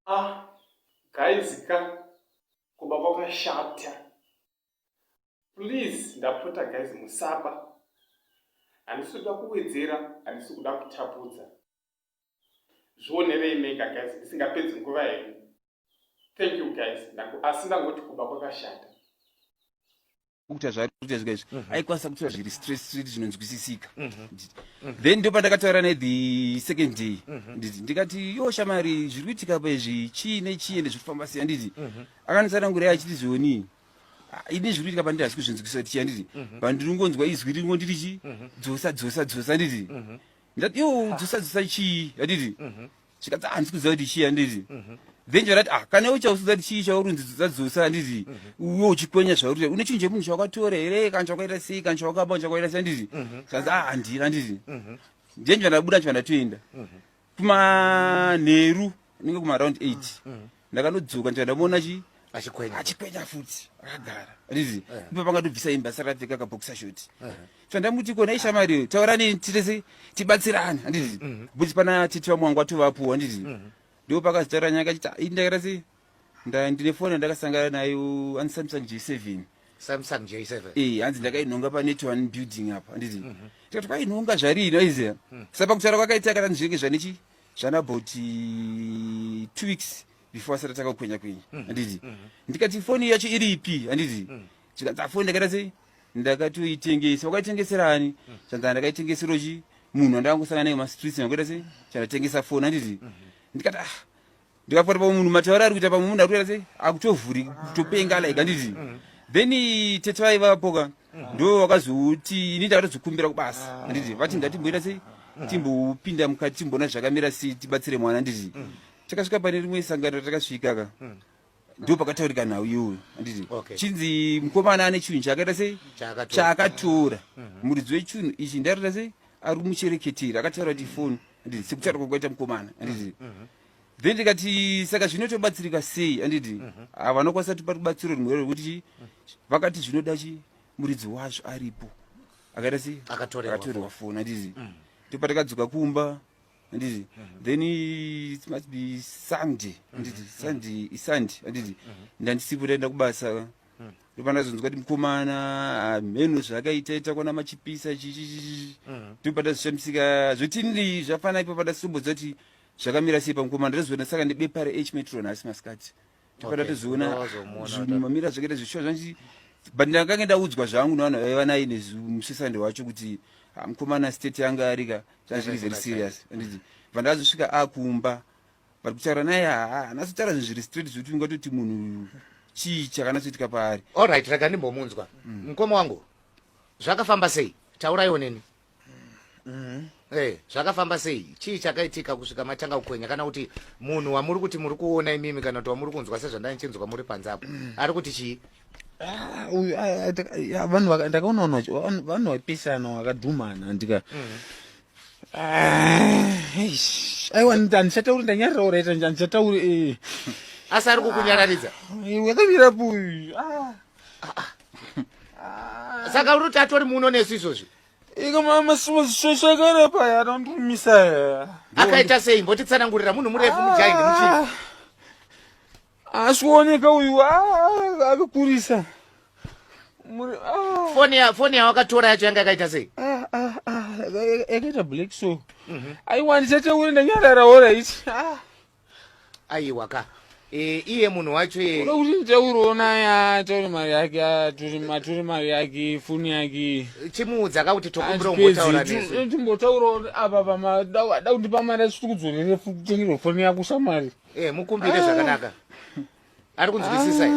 Ah, guys ka kuba kwakashata please ndapota guys musaba handisi kuda kuwedzera handisi kuda kutapudza zvionerei mega guys ndisingapedzi nguva henyu thank you guys asi ndangoti kuba kwakashata kuita zvakuita zvika izvi mhm. aikwanisa kutora zviri straight straight zvinonzwisisika mhm. Mhm. then ndo pandakataura naye the second day nditi ndikati yo shamari zviri kuitika pa izvi chii nechii ende zviri kufamba sei anditi akandisanangurei achiti zvionii ah, ini zviri kuitika pandiri hasi kuzvinzwisisa kuti chii anditi pandiri ngonzwa izwi ringo ndiri chi dzosa dzosa dzosa anditi ndati yo dzisa dzisa chii yanditi mhm. zvikati handisi kuziva kuti chii yanditi mhm. then chandati ah kana iwe chausiza kuti chii chaurunzi dzisa dzosa yanditi mhm. uwe uchikwenya zvauri une chinhu chemunhu chawakatora here kana chawakaita sei kana chawakaba kana chawakaita sei yanditi zvanzi ah handira yanditi then chandabuda chandatoenda kumanheru inenge kuma around 8 mm, mm. ndakanodzoka ndikaenda muona chi achikwenya achikwenya futi akagara rizi eh. ndipo pangatobvisa imba saka apfeka kaboxer shot eh. chandamuti kona ishamari taurani titese tibatsirane anditi mm-hmm. buti pana titi vamwe wangu atovapuwa anditi mm-hmm. ndipo pakazitaura nyaya kachiti ii ndakaita se ndine foni yandakasangana nayo ani samsung j seven samsung j seven ee eh, hanzi ndakainhonga pane tone building apa anditi mm-hmm. tikati kwainhonga zvarii noiziva mm. sa pakutaura kwakaita kana ndizvinenge zvanechi zvana about eh, two weeks before asati atanga kukwenya kwenya mm-hmm. handiti mm-hmm. ndikati foni yacho iri ipi handiti mm. zvikanzi afoni ndakaita sei ndakatoitengesa wakaitengeserani mm. zvanzi ndakaitengesero chi munhu andakangosangana naye mumastreets ndakuita sei chandatengesa foni handiti mm-hmm. ndikati ah ndikafuata pamwe munhu mataura ari kuita pamwe munhu ari kuita sei akutovhuri kutopenga like anditi mm. then tete vaivapoka mm. ndo vakazoti ini ndakatozokumbira kubasa anditi ah. vati ndatimboita sei mm. timbopinda mukati timboona zvakamira sei tibatsire mwana anditi takasvika pane rimwe sangano takasvika ka ndo pakataurika nhau iyoyo anditi chinzi mukomana ane chinhu chaakaita sei chaakatora mm-hmm. muridzi wechinhu ichi ndaita sei ari muchereketeri akataura kuti foni anditi sekutaura kwakaita mukomana anditi mm-hmm. then tikati saka zvino tobatsirika sei anditi mm -hmm. Ah, vanokwanisa tipa rubatsiro rumwe rwekuti mm. vakati zvinoda chi muridzi wacho aripo akaita sei akatorerwa foni anditi mm. tipa takadzoka kumba anditi mm -hmm. then it must be sunday mm-hmm. anditi mm -hmm. sunday isunday anditi mm -hmm. ndandisipo taenda kubasa mm -hmm. ndopanazonzwa ti mukomana ah, mheno zvakaita ita kwana machipisa chichichichi mm -hmm. topatazvishamisika zvotinii zvafana ipo patasombodza kuti zvakamira sei pamukoma ndatozoona saka nebepa reh metro nhasi masikati topata tozoona zvinhu mamira zvakaita zvishuwa zvanzi but ndakange ndaudzwa zvangu nevanhu vaiva naye nemusesande wacho kuti ah, mukomana state yanga arika zvanzviri very serious anditi vandazosvika akumba ah, but kutaura naye haana sotaura zvinhu zviri straight zvekuti ungatoti munhu chii chakanatsoitika paari allright rega ndimbomunzwa mm. mukoma wangu zvakafamba sei tauraiwo neni Mm-hmm. Hey, eh, zvakafamba sei chii chakaitika kusvika matanga kukwenya kana kuti munhu wamuri kuti muri kuona imimi kana kuti wamuri kunzwa sezvandanichinzwa muri panze apo mm. ari kuti chii ah, uyu ah, ah, vanhu ndakaona vanhu vapisana vakadhumana ndika mm. aiwa handichatauri ndanyarirawo raita handichatauri eh. asi ari kukunyararidza yakamira puyu saka uri kuti atori muno nesu izvozvi Iko mama sosakara paya anondimisa here. Akaita sei mbotitsanangurira munhu murefu mujaini muchii. Asikuoneka uyu ah, akakurisa. Ah. Foni ya foni yawakatora yacho yanga yakaita sei? Ah, ah, ah, yakaita black so. Mhm. Aiwa ndisataure ndanyarara ora ichi. Ah. aiwa ka e, iye munhu wacho ye Kuda kuti nditauriwo naye ataure mari yake atore matore mari yake foni yake chimuudza ka kuti tokumbira umbotaura nesu timbotaurawo apa pama da da kundipa mari asi tikudzorere futi kutengerwa foni yako shamwari e, mukumbire zvakanaka ari kunzwisisa here?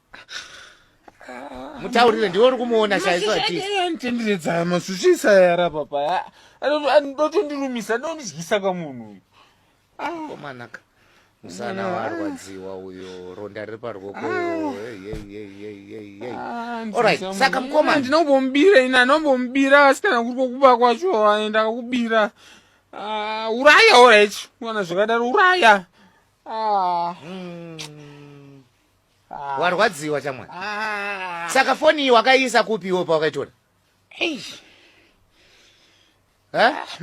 mutaurire ndiwe uri kumuona chaiso atitendiredza masuchisa yara papa ndotondirumisa ndondidyisa kamunhu uyu komanaka musana warwadziwa uyo ronda riri parwoko saka mukoma ndinombomubira ini anombomubira asi kana kuri kokuba kwacho aenda kakubira ah, uraya orit kuona zvakadaro uraya ah. hmm. Ah. warwadziwa chamwana ah. saka foni iyi wakaiisa kupi iwo pawakaitora